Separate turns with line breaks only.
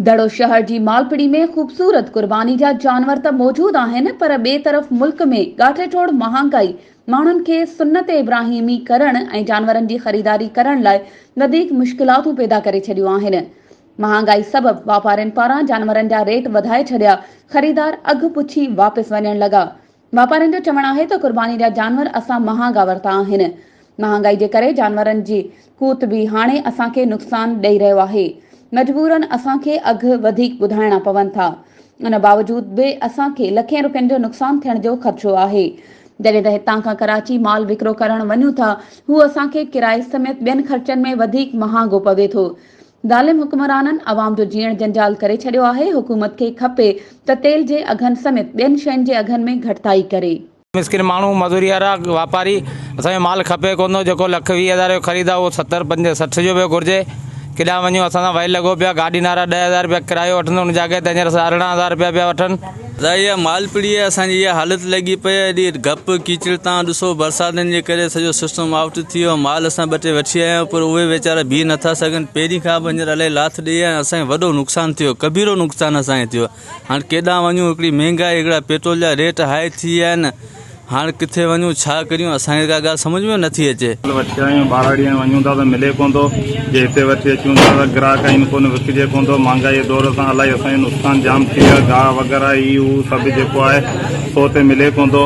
دڙو شهر جي مالپڙي ۾ خوبصورت قرباني جا جانور ته موجود آهن پر ٻئي طرف ملڪ ۾ ڳاٺي ٽوڙ مهانگائي ماڻهن کي سنت ابراهيمي ڪرڻ ۽ جانورن جي خريداري ڪرڻ لاء وڌيڪ مشڪلاتون پيدا ڪري ڇڏيون آهن. مهانگائي سبب واپارين پاران جانورن جا ريٽ وڌائي ڇڏيا، خريدار اگهه پڇي واپس وڃڻ لڳا. واپارين جو چوڻ آهي ته قرباني جا جانور اسان مهانگا ورتا آهن، مهانگائي جي ڪري جانورن جي قوت به هاڻي اسان کي نقصان ڏئي رهيو آهي، مجبورن اسان کي اگهه وڌيڪ ٻڌائڻا پون ٿا، ان باوجود به اسان کي لکين رپين جو نقصان ٿيڻ جو خدشو آهي، جڏهن ته هتان کان ڪراچي مال وڪرو ڪرڻ وڃون ٿا هو اسان کي ڪرائي سميت ٻين خرچن ۾ وڌيڪ مهانگو پوي ٿو، ظالم حڪمرانن عوام جو جيئڻ جنجال ڪري ڇڏيو آهي، حڪومت کي کپي ته تيل جي اگهن سميت ٻين شين جي اگهن ۾ گهٽتائي ڪري. مسڪين ماڻهو،
مزوريارا، واپاري، اسان کي مال کپي ڪونه ٿو، جيڪو لک ويهه هزار جو خريد آهي اهو ستر، پنج، سٺ جو به گهرجي، ڪيڏانهن وڃون، اسان سان ويل لڳو پيو آهي، گاڏي نارا ڏهه هزار رپيا ڪرايو وٺن ته ان جي جاڳي تي هينئر سارهه ارڙهن هزار رپيا پيا وٺن. ظاهر آهي مالپڙي
۾ اسان جي اها حالت لڳي پئي آهي. ايڏي گپ ڪيچڙ تان ڏسو برساتن جي ڪري سڄو سسٽم آئوٽ ٿي ويو آهي. مال اسان ٻه ٽي وٺي آيا آهيون پر اهي ويچارا بيهي نه ٿا سگهن. پهرين کان به هينئر الائي لاٿ ڏئي آيا آهيون. اسان کي وڏو نقصان ٿي ويو ڪبيرو نقصان اسان کي ٿي ويو. هاڻ ڪيڏانهن وڃون هڪڙي مهنگائي هڪڙا پيٽرول جا ريٽ هائي ٿي ويا آهن. هاڻ ڪٿي وڃون ڇا ڪريون اسان کي ڪا ڳالهه سمجهه ۾ نٿي اچي. مال وٺي آيون ٻاراڙي
۽ وڃون ٿا ته ملي ڪون ٿو جي هتي وٺي اچون ٿا ته گراهڪ آهن ڪونه وڪجي ڪون ٿو مهانگائي دور سان الائي اسان جو نقصان جام ٿي ويو آهي گاهه وغيره هي هو سڀ جيڪو آهي سو هتي ملي ڪون ٿو.